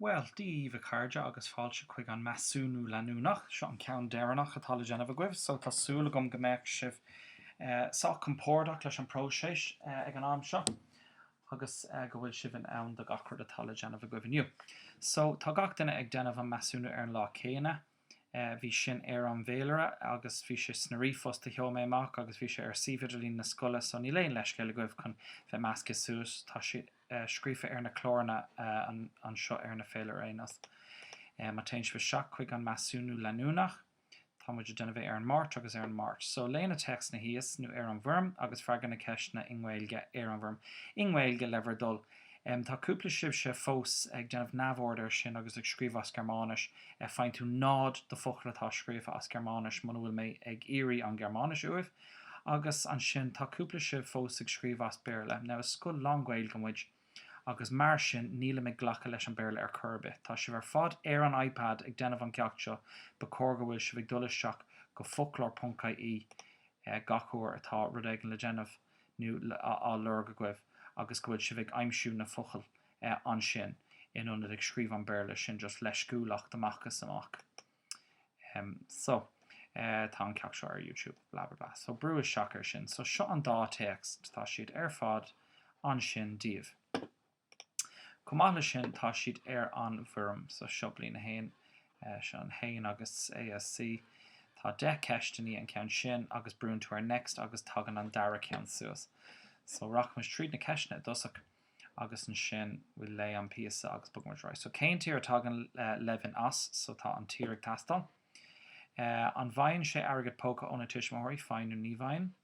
Bhuel, Dia daoibh a chairde agus fáilte chuig an measúnú leanúnach. Seo an ceann deireanach atá le déanamh agaibh, so tá súil agam go mbeadh sibh sách compordach leis an próiseas ag an am seo agus go bhfuil sibh in ann do gach rud atá le déanamh agaibh inniu. So, tá gach duine ag déanamh an measúnú ar an lá céanna. bhí sin ar an bhféilire agus bhí sé sna ríomhphost a sheol mé amach agus bhí sé ar suíomh idirlín na scoile so níl aon leithscéal agaibh chun bheith measctha suas, tá sé scríofa ar na cláranna anseo ar na féilire anois. Má téann sibh isteach chuig an measúnú leanúnach tá muid ag déanamh é ar an Máirt agus ar an Máirt so léigh na téacsanna thíos nó ar an bhfoirm agus freagair na ceisteanna i nGaeilge ar an bhfoirm i nGaeilge le bhur dtoil. Tá cúpla sibhse fós ag déanamh neamhaird ar sin agus ag scríobh as Gearmáinis. Faigheann tú 0 do focal atá scríofa as Gearmáinis muna bhfuil mé ag iarraidh an Ghearmáinis uaibh. Agus ansin tá cúpla sibh fós ag scríobh as Béarla. Now is scoil lánGhaeilge muid agus mar sin níl mé ag glacadh leis an Béarla ar chor ar bith. Tá sibh ar fad ar an iPad ag déanamh an gceacht seo, ba chóir go bhfuil sibh ag dul isteach go foclóir ponc-ie gach uair atá rud éigin le déanamh. nó á lorg agaibh agus go bhfuil sibh ag aimsiú na focail ansin in ionad ag scríobh an Béarla sin just leisciúlacht amach is amach em so tá an ceacht seo ar YouTube blah blah blah so brúigh isteach ar sin so seo an dá téacs tá siad ar fad ansin daoibh. Chomh maith leis sin, tá siad ar an bhfoirm so Seo Bliain a hAon, Seo an hAon agus ASC. Tá deich gceist i ndiaidh an ceann sin agus brúnn tú ar Next agus tagann an dara ceann suas. So, rachaimis tríd na ceisteanna i dtosach agus ansin we'll léigh an píosa agus bogfaimid ar aghaidh. So, cén tír a dtagann Levin as? So, tá an tír ag teastáil. An bhfaigheann sé airgead póca óna tuismitheoirí? Faigheann nó ní bhfaigheann?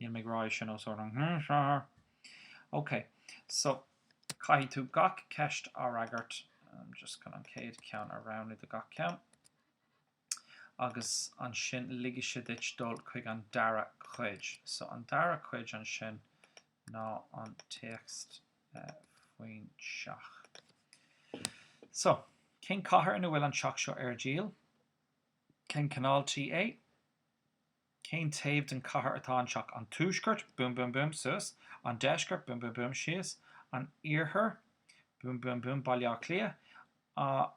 Nílim ag rá é sin os ard an ghrianghrafadóir. OK, so caithfidh tú gach ceist a fhreagairt. I'm just gonna an chéad cheann a roghnú do gach ceann. Agus ansin ligfidh sé duit dul chuig an dara cuid. So an dara cuid ansin ná an téacs faoin teach. So, cén cathair ina bhfuil an teach seo ar díol? Cén cineál tí é? Cén taobh den chathair atá an teach? An tuaisceart? Boom boom boom, suas. An deisceart? Boom boom boom, síos. An iarthar? Boom boom boom, Baile Átha Cliath.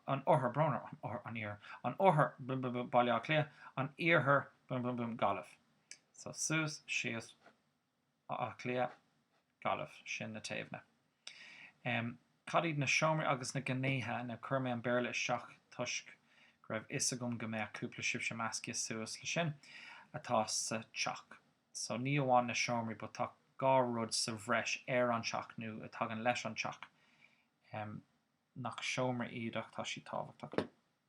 An oirthear? Brón orm, an iarthar. An oirthear? Boom boom boom, Baile Átha Cliath. An iarthar? Boom boom boom, Gaillimh. So, suas, síos. Áth Cliath, Gaillimh, sin na treabhanna. em. cad iad na seomraí agus na gnéithe no chuir mé an Béarla isteach toisc go raibh 'fhios agam go mbeadh cúpla daoibhse meascaithe suas le sin atá sa teach so ní amháin na seomraí but tá dhá rud sa bhreis ar an teach nó a tagann leis an teach em. nach seomraí iad ach tá siad tábhachtach.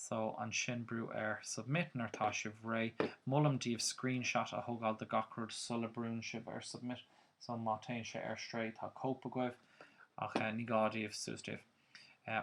So, ansin brú ar, submit, nuair atá sibh réidh. Molaim daoibh screenshot a thogáil de gach rud sula brúnn sibh ar submit, so má téann sé ar strae tá cóip agaibh, ach ní gá daoibh, suas daoibh.